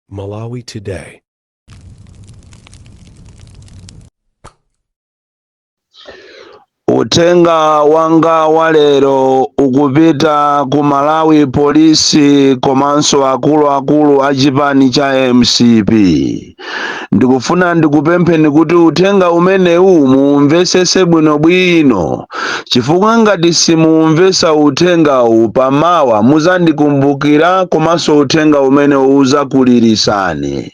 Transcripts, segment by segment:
Malawi Today. Uthenga wanga wa lero ukupita ku Malawi polisi komanso akuluakulu a chipani cha mcp. ndikufuna ndikupempheni kuti uthenga umenewu muumvesese bwinobwino chifukwa ngati simuumvesa uthengawu pamawa muzandikumbukira komanso uthenga umene uzakulirisani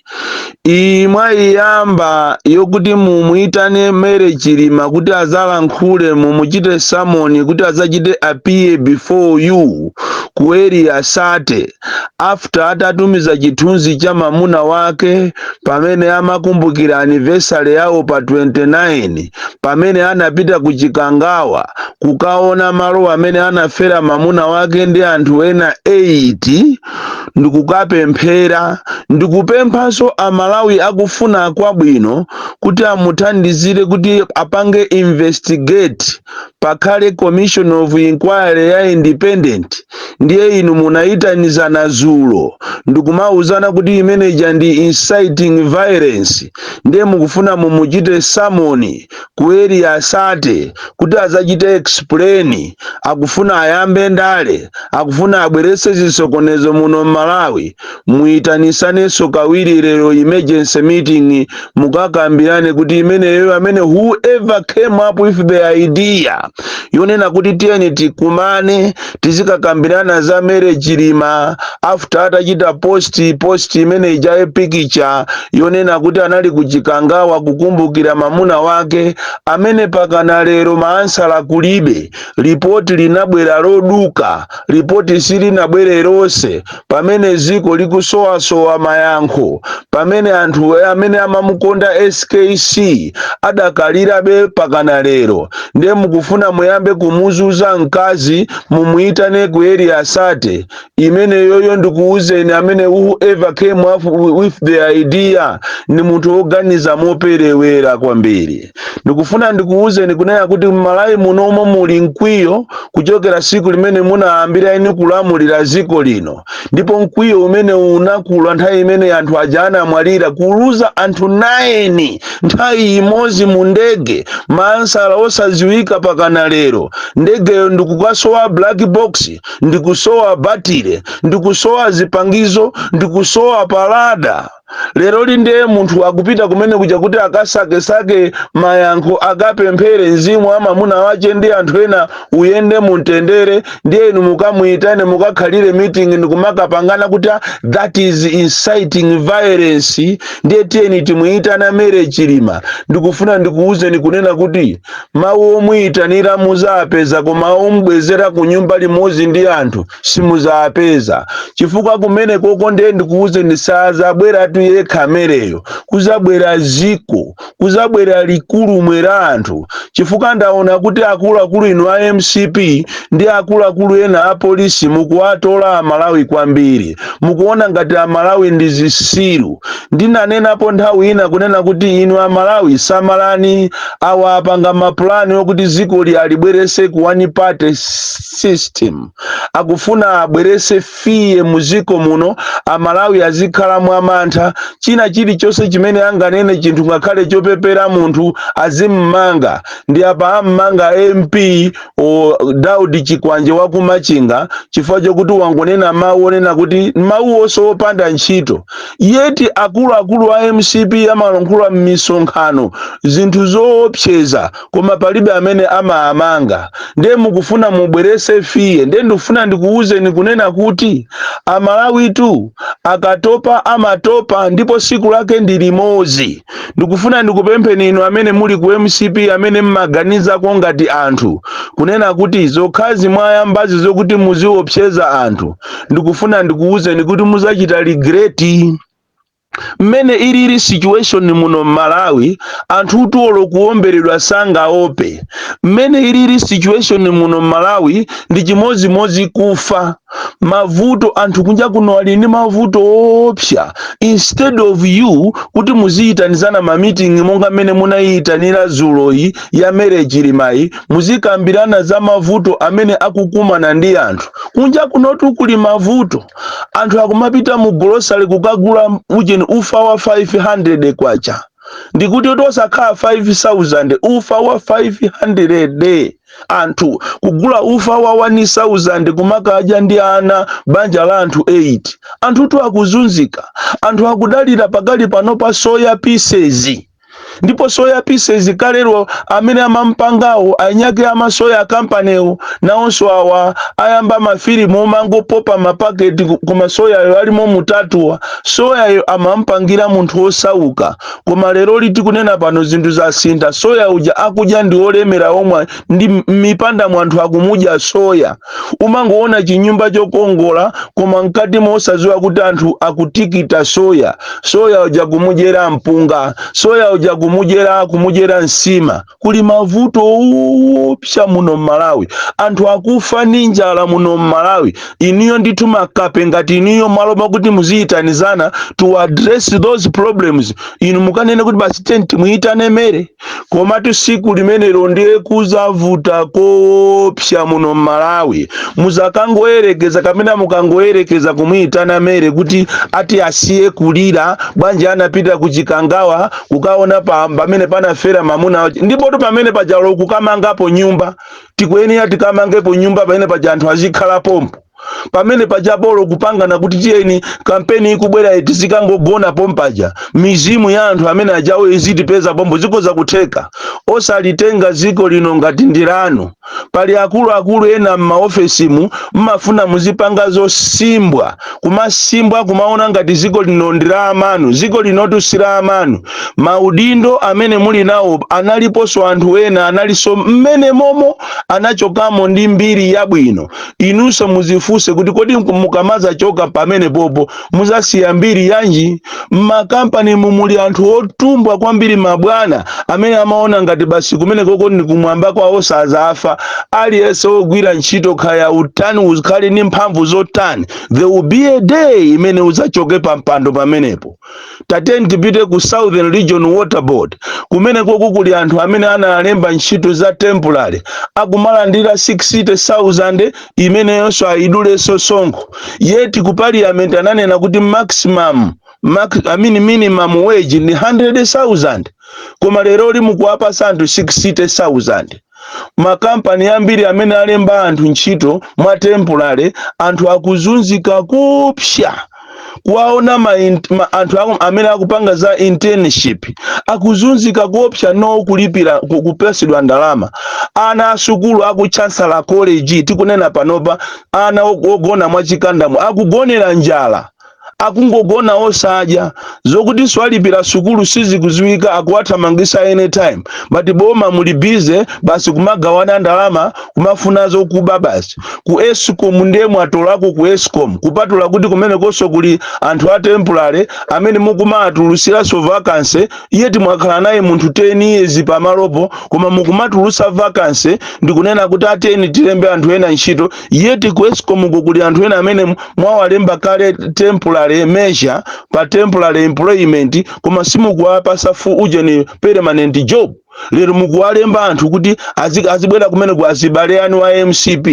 iyi mwaiyamba yokuti mumuitane Mary Chilima kuti azalankhule mumuchite samoni kuti azachite appear before you ku area 30 after atatumiza chithunzi cha mamuna wake pamene amakumbukira anniversary yawo pa 29 pamene anapita ku chikangawa kukaona malo amene anafera mamuna wake ndi anthu ena 8 ndikukapemphera ndikupemphanso amalawi akufuna kwabwino kuti amuthandizire kuti apange investigate pakhale commission of inquiry ya independent ndiye inu munayitanizana zulo ndikumauzana kuti imene ija ndi inciting violence ndiye mukufuna mumuchite samoni ku area 30 kuti azachite explain akufuna ayambe ndale akufuna abwerese zisokonezo muno m'malawi muitanisanenso kawiri lero emergency meeting mukakambirane kuti imeneyo amene whoever came up with the idea yonena kuti tiyeni tikumane tizikakambirana za Mary Chilima after atachita post post imene ija ya picture yonena kuti anali kuchikangawa kukumbukira mamuna wake amene pakana lero maansala kulibe lipoti linabwera loduka lipoti silinabwere lonse pamene dziko likusowasowa mayankho pamene anthu amene amamukonda skc adakalirabe pakana lero ndiye mukufuna muyambe kumuzuza mkazi mumuyitane ku area 30 imeneyoyo ndikuwuzeni amene whoever came up with the idea ndi munthu woganiza moperewera kwambiri ndikufuna ndikuwuzeni kunena kuti m'malawi munomo muli mkwiyo kuchokera siku limene munayambira inu kulamulira ziko lino ndipo mkwiyo umene unakula nthawi imene anthu aja anamwalira kuluza anthu 9 nthawi imodzi mu ndege maansala osadziwika pakana lero ndegeyo ndikukasowa black box ndikusowa batire ndikusowa zipangizo ndikusowa pa radar lero li ndiye munthu akupita kumene kuja kuti akasakesake mayankho akapemphere mzimu wa mamuna wache ndi anthu ena uyende mumtendere ndiye inu mukamuyitane mukakhalire meeting ndikumakapangana kuti "Ah, that is inciting violence ndiye tiyeni timuyitana Mary Chilima ndikufuna ndikuwuzeni kunena kuti mawu omuyitanira muzapeza koma omubwezera ku nyumba limodzi ndi anthu simuzaapeza chifukwa kumene koko ndiye ndikuwuzeni sazabweratu yekha a Mary-yo kuzabwera ziko kuzabwera likulu mwera anthu chifukwa ndaona kuti akuluakulu inu a mcp ndi akuluakulu ena a polisi mukuwatola amalawi kwambiri mukuona ngati amalawi ndi zisiru ndinanenapo nthawi ina kunena kuti inu amalawi samalani awa apanga mapulani okuti zikoli alibwerese ku one party system akufuna abwerese fear muziko muno amalawi azikhala mwamantha china chilichonse chimene anganene chinthu ngakhale chopepera munthu azimmanga ndi apa ammanga mp a Daudi chikwanje wakumachinga chifukwa chokuti wangonena mawu onena kuti mawu onse opanda ntchito yet akuluakulu a mcp amalankhula m'misonkhano zinthu zoopseza koma palibe amene amaamanga ndiye mukufuna mubwerese fear ndiye ndikufuna ndikuwuzeni kunena kuti amalawitu akatopa amatopa ndipo siku lake ndi limodzi ndikufuna ndikupempheni inu amene muli ku mcp amene mmaganizako ngati anthu kunena kuti zokhazi mwayambazi zokuti muziopseza anthu ndikufuna ndikuwuzeni kuti muzachita regret mmene ilili situation muno mmalawi anthutu olo kuomberedwa sangaope mmene ilili situation muno mmalawi ndi chimodzimodzi kufa mavuto anthu kunja kuno ali ndi mavuto oopsa instead of you kuti muziyitanizana ma meeting monga mmene munayiyitanira dzuloyi ya Mary Chilimayi muzikambirana za mavuto amene akukumana ndi anthu kunja kunotu kuli mavuto anthu akumapita mu grocery kukagula ujeni ufa wa 500 kwacha ndikuti kuti osakhala 5000 ufa wa 500 anthu kugula ufa wa 1000 kumakadya ndi ana banja la anthu 8 anthutu akuzunzika anthu akudalira pakali pano pa soya pieces ndipo soya pieces kalero amene amampangawo eniake a soya akampaniwo nawonso awa ayamba mafilimu omangopopa mapaketi ku- koma soyayo alimo mutatu awa soyayo amampangira munthu wosauka koma lero liti kunena pano zinthu zasintha soya uja akudya ndi olemera omwe ndi m- m'mipanda mwa anthu akumudya soya umangoona chinyumba chokongola koma mkati mosadziwa kuti anthu akutikita soya soya uja kumudyera mpunga soya uja kumudyera kumudyera nsima kuli mavuto owopsa muno mmalawi anthu akufa ndi njala muno mmalawi inuyo ndithu makape ngati inuyo mmalo mwakuti muziyitanizana to address those problems inu mukanene kuti basi tenti muyitane mary komatu siku limenelo ndiye kuzavuta koopsa muno m'malawi muzakangoyerekeza kapena mukangoyerekeza kumuyitana mary kuti ati asiye kulira bwanji anapita kuchikangawa kukaona pa- pamene panafera mamuna wake ndipotu pamene paja bolo kukamangapo nyumba tikuyenera tikamangepo nyumba pamene paja anthu azikhala pompo pamene paja bolo kupangana kuti tiyeni kampeni ikubwerayi tizikangogona pompaja mizimu ya anthu amene ajawo izitipeza pompo zikhoza kutheka osalitenga ziko lino ngati ndilanu pali akuluakulu ena m'maofesimu mmafuna muzipanga zosimbwa kumasimbwa kumaona ngati ziko lino ndi la amanu ziko linotu si la amanu maudindo amene muli nawo analiponso anthu ena analinso mmene momo anachokamo ndi mbiri yabwino inunso muzifunse kuti kodi mku- mukamazachoka pamenepopo muzasiya mbiri yanji mmakampani mu muli anthu otumbwa kwambiri mabwana amene amaona ngati basi kumenekoko ndi kumwamba kwawo sazafa aliyense ogwira ntchito kaya utani ukhale ndi mphamvu zotani there will be a day imene uzachoke pa mpando pamenepo tateni tipite ku southern region water board kumenekoku kuli anthu amene analemba ntchito za temporary akumalandira 60000 imeneyonso ayidulenso sonkho yet ku parliament ananena kuti maximum max, I mean minimum wage ndi 100000 koma leroli mukuwapasa anthu 60000 makampani ambiri amene alemba anthu ntchito mwa temporary anthu akuzunzika koopsa kuwaona ma, ma, anthu amene akupanga za internship akuzunzika koopsa no kulipira kupasidwa ndalama ana asukulu aku chancellor college tikunena panopa ana ogona mwachikandamo akugonera njala akungogona osadya zokutinso alipirira sukulu sizikuziwika akuwathamangisa anytime but boma muli busy basi kumagawana ndalama kumafuna zokuba basi ku escom ndiye mwatolako ku escom kupatula kuti kumenekonso kuli anthu a temporary amene mukumawatulusiranso vacancy yet mwakhala naye munthu 10 years pamalopo koma mukumatulusa vacancy ndikunena kuti tateni tilembe anthu ena ntchito yeti ku escom uko kuli anthu ena amene m- mwawalemba kale temporary measure pa temporary employment koma simukuwapasa full ujeni permanent job lero mukuwalemba anthu kuti azi- azibwera kumeneko azibale anu a mcp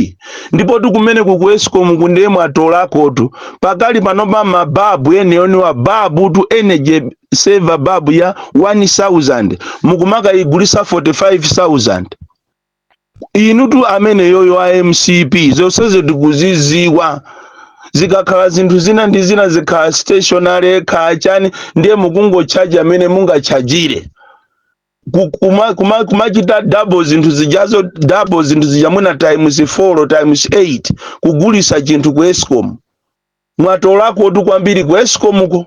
ndipo kumeneku ku escom ku ndiye mwatolakotu pakali panopa mababu enieniwa babutu energy saver babu ya 1000 mukumakayigulisa 45000 inutu amene eyo a mcp zonsezo tikuziziwa zikakhala zinthu zina ndi zina zikakhala stationery kaya chani ndiye mukungochaja mmene mungachajire Ku- kuma- kuma- kumachita double zinthu zijazo double zinthu zija mwina times 4 times 8 kugulisa chinthu ku escom mwatolakotu kwambiri ku escom ko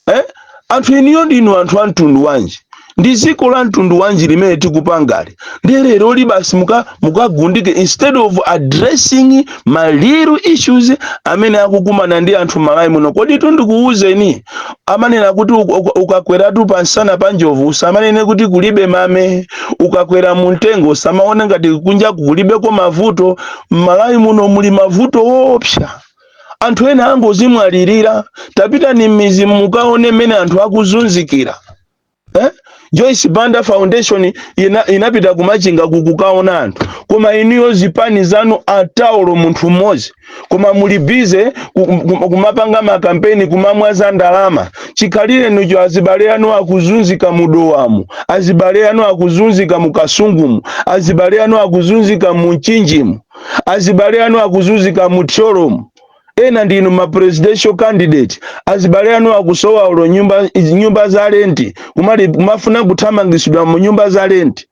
eh? anthu inuyo ndinu anthu a mtundu wanji ndi dziko la mtundu wanji limene tikupangali ndiye leroli basi muka- mukagundike instead of addressing ma real issues amene akukumana ndi anthu mmalawi muno kodi ndikuwuzeni amanena kuti uka- uka- ukakweratu pansana pa njovu usamanene kuti kulibe mame ukakwera mu mtengo usamaone ngati kunja kulibeko mavuto mmalawi muno muli mavuto woopsa anthu ena angozimwalirira tapitani m'mizi mukaone mmene anthu akuzunzikira eh? joyce banda foundation ina, inapita kumachinga kukukaona anthu koma inuyo zipani zanu atawolo munthu mmodzi koma muli bize ku- ku- kumapanga makampeni kumamwaza ndalama chikhalirenicho azibale anu akuzunzika mudowamu azibale anu akuzunzika mukasungumu azibale anu akuzunzika munchinjimu azibale anu akuzunzika mu thyolomu ena ndinu ma presidential candidate azibale anu akusowa olo nyumba, nyumba za lenti kuma- kumafuna kuthamangisidwa mu nyumba za lenti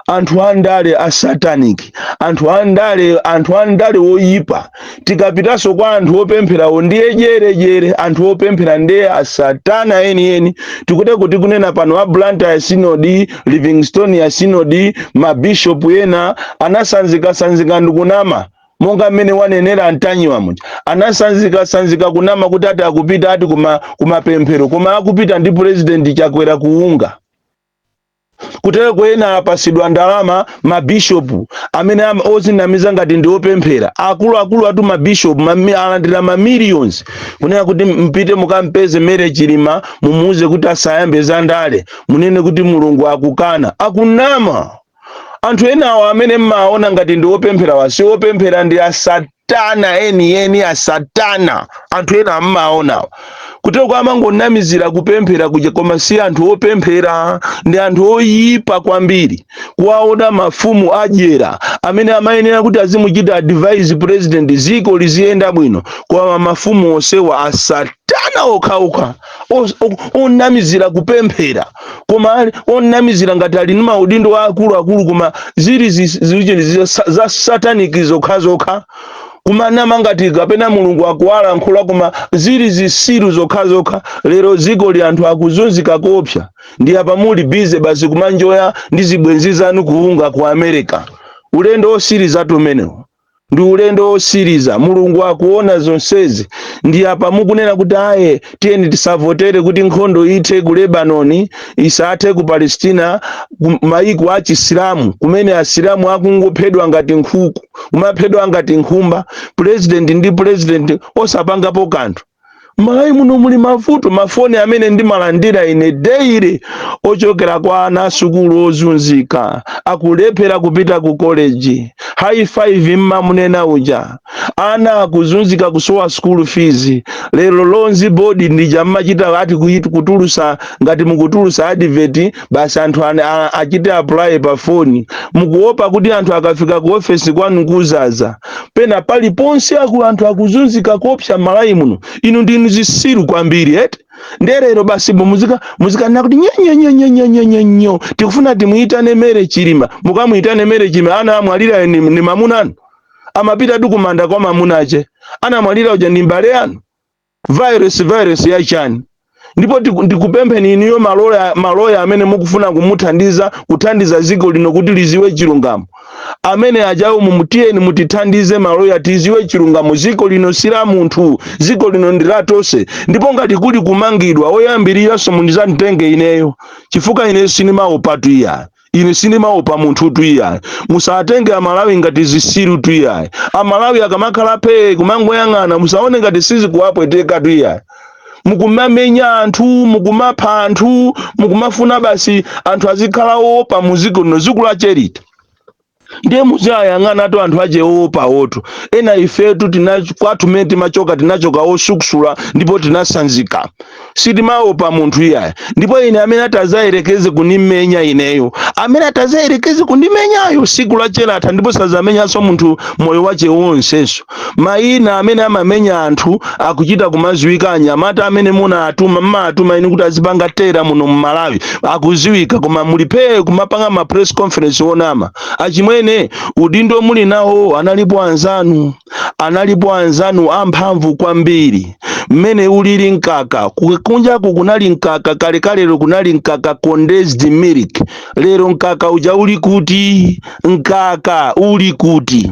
anthu andale a satanic anthu andale anthu andale oyipa tikapitanso kwa anthu opempherawo ndiye jerejere anthu opemphera ndiye asatana enieni kuti kuti kunena pano a blantyre synod livingstonia synod mabishopu ena anasanzikasanzika ndi kunama monga mmene wanenera antanyiwa muja anasanzikasanzika kunama kuti ati akupita ati kuma, kumapemphero koma akupita ndi purezidenti chakwera ku unga kutereko ena apasidwa ndalama mabishopu amene ama- ozinamiza ngati ndi opemphera akuluakulu atu mabishopu mami- alandira mamillions kunena kuti mupite mukampeze mary chilima mumuuze kuti asayambe za ndale munene kuti mulungu akukana akunama anthu enawo amene mmaona ngati ndi opempherawa si opemphera ndi asatana enieni asatana anthu ena mmaonawo kuteroko amangonamizira kupemphera kuja koma si anthu opemphera ndi anthu oyipa kwambiri kuwaona mafumu adyera amene amayenera kuti azimuchita advise president ziko liziyenda bwino koma mafumu onsewa asatana okhaokha Os- o- onamizira kupemphera koma ali- onamizira ngati ali ndi maudindo aakuluakulu koma zili zi- zicheni zi- sa- za sataniki zokhazokha kumanama ngati kapena mulungu akuwalankhula koma zili zisiru zokhazokha lero dziko li anthu akuzunzika koopsa ndiye apa muli busy basi kumanjoya ndi zibwenzi zanu ku unga ku america ulendo osirizatu umenewo ndi ulendo wosiriza mulungu akuona zonsezi ndiye apa mukunena kuti ayi tiyeni tisavotere kuti nkhondo ithe ku lebanoni isathe ku palestina ku maiko a chisilamu kumene asilamu akungophedwa ngati nkhuku kumaphedwa ngati nkhumba purezidenti ndi purezidenti osapangapo kanthu malawi muno muli mavuto mafoni amene ndimalandira ine daily ochokera kwa ana asukulu ozunzika akulephera kupita ku koleji high five mmamunena uja ana akuzunzika kusowa sukulu fees lero loans board ndija mmachita ati kuit- kutulusa ngati mukutulusa advert basi anthu ane- a- achite apply pa foni mukuopa kuti anthu akafika ku ofesi kwanu kuzaza pena paliponse aku anthu akuzunzika koopsa mmalawi muno inu ndinu zisiru kwambiri eti ndiye lero basi bo muzika muzikanena kuti nyonyonyonyonyonyonyo tikufuna timuyitane mary chilima mukamuyitane mary chilima anamwalira ni, ni mamuna anu amapitatu kumanda kwa mamuna ache anamwalira uja ni mbale wanu virus virus ya chani ndipo tiku- ndikupempheni inuyo maloya maloya amene mukufuna kumuthandiza kuthandiza dziko lino kuti liziwe chilungamo amene ajawo mumu tiyeni mutithandize maloya tiziwe chilungamo dziko lino si la munthu dziko lino ndi la tonse ndipo ngati kuli kumangidwa oyambiriranso mundizanditenge ineyo chifukwa ineyo sinimaopatu iya ine sindimaopa munthutu iyayi musatenge amalawi ngati zisirutu iyayi amalawi akamakhala phee kumangoyang'ana musaone ngati sizikuwapwetekatu iyayi mukumamenya anthu mukumapha anthu mukumafuna basi anthu azikhala oopa muziko lino ziko lache liti ndiye muziwayang'anatu anthu ache oopawotu ena ifetu tina kwathu mmene timachoka tinachoka osukusula ndipo tinasanzika sitimaopa munthu iyayi ndipo ine amene atazayerekeze kundimenya ineyo amene atazayerekeze kundimenyayo siku lache latha ndipo sazamenyanso munthu moyo wache wonsenso Mayina amene amamenya anthu akuchita kumaziwika anyamata amene munatuma mmatuma inu kuti azipanga tera muno mu Malawi akuziwika koma muli phee kumapanga ma press conference onama achimwene udindo muli nawo analipo anzanu analipo anzanu amphamvu kwambiri mmene ulili mkaka kunjaku kunali mkaka kalekalero kunali mkaka condensed milk lero mkaka uja uli kuti mkaka uli kuti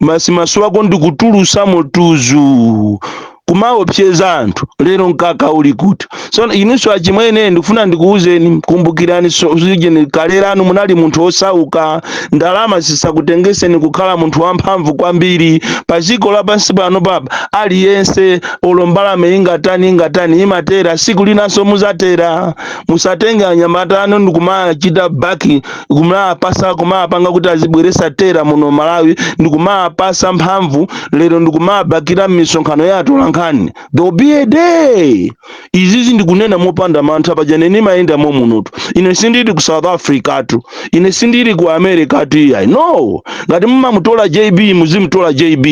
basi maso ako ndikutulusa motuzu kumaopseza anthu lero mkaka uli kuti so inunso achimwene ndikufuna ndikuwuzeni kumbukirani so zija ni kale lanu munali munthu osauka ndalama zisakutengeseni kukhala munthu wamphamvu kwambiri pa dziko lapansi pano palibe aliyense olo mbalame ingathawe ingatani imatera siku linanso muzatera musatenge anyamata anu ndikumachita baki kumapasa kumapanga kuti azibweresa tera muno malawi ndikumapasa mphamvu lero ndikumabakira misonkhano ya atolankhani there will be a day izizi ndikunena mopanda mantha paja ine ndimayenda momunotu ine sindili ku south africa tu ine sindili ku america tu iyayi no ngati mumamutola jb muzimutola jb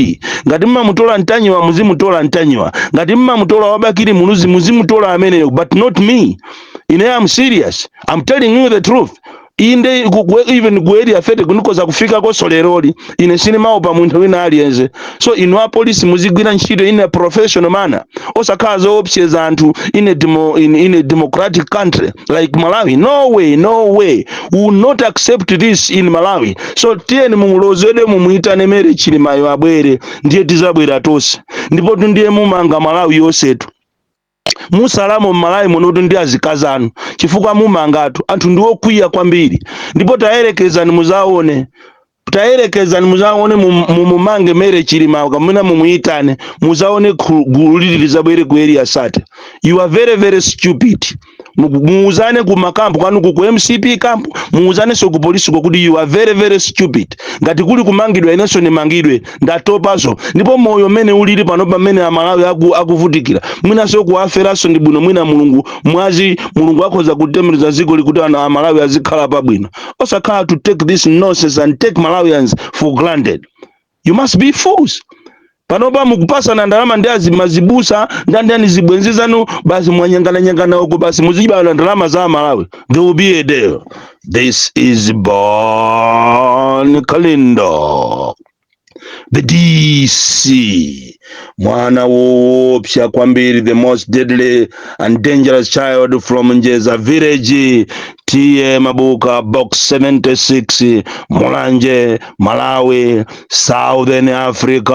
ngati mumamutola ntanyiwa muzimutola ntanyiwa ngati mumamutola wa Bakili Muluzi muzimutola ameneyo but not me ine am serious am telling you the truth inde ku- ku- even ku area 30 nikhoza kufikakoso leroli ine sinimawopa munthu wina aliyense so inu apolisi muzigwira ntchito in a professional manner osakhala zoopseza anthu in a, demo, in, in a democratic country like malawi no way no way we will not accept this in malawi so tiyeni mumuloze mumuitane Mary Chilimayo abwere ndiye tizabwera tonse ndipo tu ndiye mumanga malawi yonsetu mutsalamo m'malawi munotu ndi azikazi anu chifukwa mumangatu anthu ndiwokwiya kwambiri ndipo tayerekezani muzaone tayerekezani muzaone mum- mumumange Mary Chilima kamuna mumuyitane muzaone khu- gulu lili lizabwere ku area sate you are very very stupid Muku- muuzane ku makampu kwanu ku ku mcp kampu muuzanenso ku polisiko kuti you are very very stupid ngati kuli kumangidwa inenso ndimangidwe ndatopaso ndipo moyo mmene ulili pano pamene amalawi aku, akuvutikira mwinaso kuwaferaso ndi bwino mwina mulungu mwazi mulungu akhoza kutembenuza dzikoli kuti ana amalawi azikhala pabwino osakhala to take this nonsense and take malawians for granted you must be fools panopa mukupasana ndalama ndi azi- mazibusa ndi ndani zibwenzi zanu basi mwanyengananyengana uko basi muzibana ndalama za amalawi there will be a day This is Bon Kalindo, the DC, mwana woopsa kwambiri, the most deadly and dangerous child from Njeza village, TA Mabuka, box 76, Mulanje, Malawi, Southern Africa.